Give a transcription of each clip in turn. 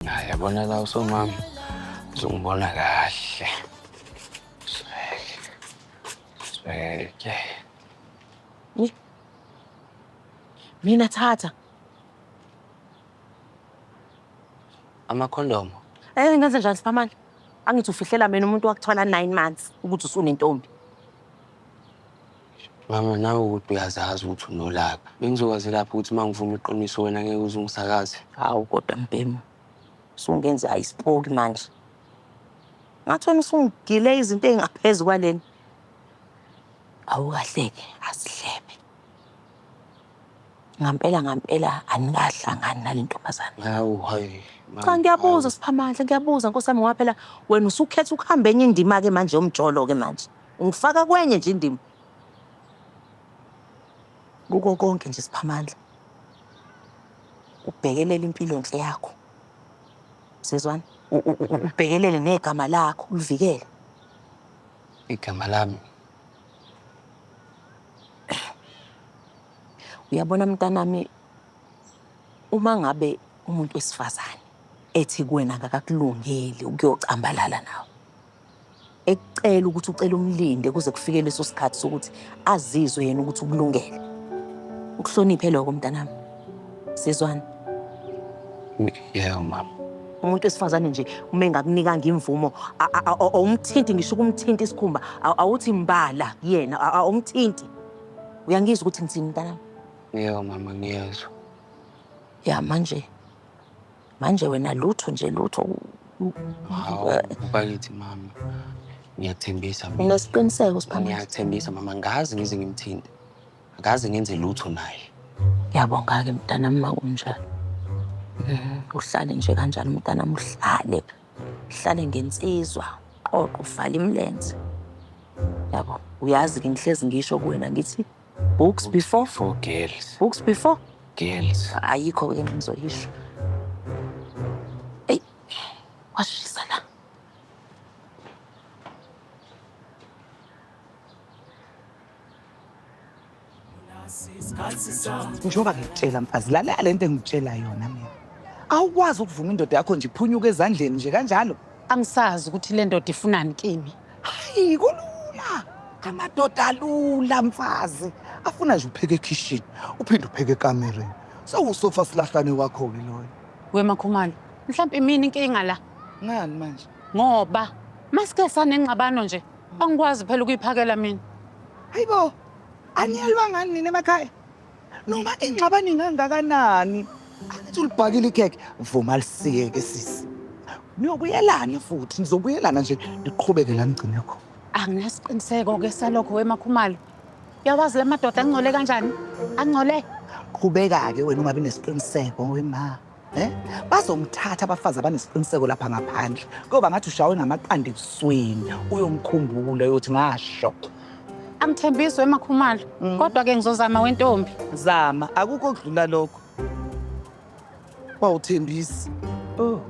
Hayi yabona la usomama uzongibona kahle. Sibeke. Sibeke. Ni- Mina thatha. Amakhondomo. Eh ngenze njani siphamani? Angithi ufihlela mina umuntu wakuthwala 9 months ukuthi usunentombi. Mama, nawe ukuthi uyazazi ukuthi unolaka. Bengizokwazi lapho ukuthi uma ngivuma iqiniso wena ngeke uze ungisakaze. Hawu kodwa mbhemu. Usungenze ayisipoki manje. Ngathi wena usungidile izinto ezingaphezu kwaleni. Awukahleke, asihlebe. Ngampela ngampela anikahlangani nale ntombazane. Hawu hayi. Cha ngiyabuza Siphamandla, ngiyabuza Nkosi yami ngoba phela wena usukhetha ukuhamba enye indima-ke manje yomjolo-ke manje. Ungifaka kwenye nje indima. Kuko konke nje Siphamandla. Ubhekelele impilonhle yakho. Sizwana? Ubhekelele negama lakho, ulivikele. Igama lami. Uyabona mntanami uma ngabe umuntu wesifazane ethi kuwena akakulungeli ukuyocambalala nawe ekucela ukuthi ucela umlinde kuze kufike leso sikhathi sokuthi azizwe yena ukuthi ukulungele ukuhloniphe lokho mntanami sizwana yebo mama umuntu wesifazane nje uma engakunikanga imvumo awumthinti ngisho ukumthinta isikhumba awuthi mbala kuyena awumthinti uyangizwa ukuthi ngithini mntanami yebo mama ngiyezwa ya manje Manje wena lutho nje lutho. Hawu, bakithi mama. Ngiyakuthembisa mina. Unesiqiniseko Siphamandla? Ngiyakuthembisa mama, ngazi ngize ngimthinte. Ngazi ngenze lutho naye. Ngiyabonga-ke mntanami uma kunjalo. Mhm, Uhlale nje kanjalo mntanami, uhlale. Uhlale ngensizwa, qoqo, ufale imilenze. Yabo, uyazi-ke ngihlezi ngisho kuwena ngithi Books before for girls. Books before girls. Ayikho ke ngizoyisho. Ey. Washisa la. Njengoba ngikutshela mfazi lalela lento engikutshela yona mina. Awukwazi ukuvuma indoda yakho nje iphunyuke ezandleni nje kanjalo. Angisazi ukuthi le ndoda ifunani kimi. Hayi kulula. Amadoda alula mfazi. Afuna nje upheke ekhishini, uphinde upheke ekamereni. Sewusofa silahlane wakho-ke loyo. We Makhumalo, mhlawumbe imini inkinga la. Ngani manje? Ngoba masike sanengxabano nje, angikwazi phela ukuyiphakela mina. Hayibo, aniyelwa ngani nina emakhaya? Noma ingxabano ingangakanani, angithi ulibhakile ikhekhe, vuma lisiyeke sisi. Niyobuyelana futhi, nizobuyelana nje niqhubeke la nigcine khona. Anginasiqiniseko-ke salokho wemakhumalo. Uyawazi la madoda angcole kanjani? Angcole. Qhubeka-ke wena ungabi nesiqiniseko wema. Eh? Bazomthatha abafazi abanesiqiniseko lapha ngaphandle. Kuyoba ngathi ushawe ngamaqanda ebusweni. Uyomkhumbula uyothi ngasho. Angithembiswe emakhumalo. Mm. Kodwa ke ngizozama wentombi. Zama, akukho kudlula lokho. Wawuthembisa. Oh.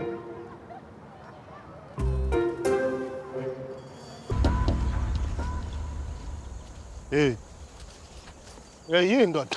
Hey. Hey, yini ndoda?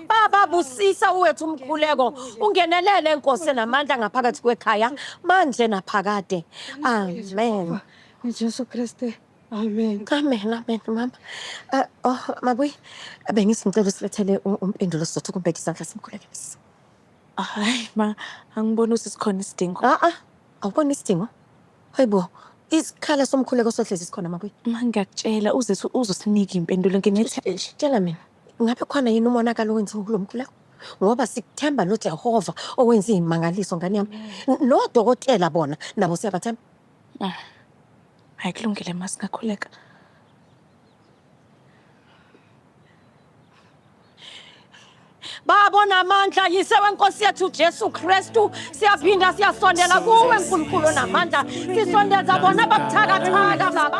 Baba busisa uwethu umkhuleko ungenelele inkosi enamandla ngaphakathi kwekhaya manje naphakade. Amen. Jesu Kriste. Amen. Amen, amen, mama. Uh, oh, mabuyi, bengisicela usilethele u- umpendulo sizothoka umbeka isandla simkhulekise. Hayi ma, angiboni ukuthi sikhona isidingo. Ah, ah, awuboni isidingo? Hayi bo, isikhala somkhuleko sohlezi sikhona mabuyi. Ma ngiyakutshela uzethu uzosinika impendulo nginethe Tshela mina. Ngabe khona yini umonakalo owenziwe kulo mkhuleko? Ngoba sikuthemba noJehova owenza izimangaliso ngane yami. Nodokotela bona nabo siyabathemba. Mm. Hayi kulungile ma singakhuleka. Baba onamandla, yise wenkosi yethu Jesu Kristu, siyaphinda siyasondela kuwe Nkulunkulu onamandla. Sisondeza bona ababuthakathaka baba.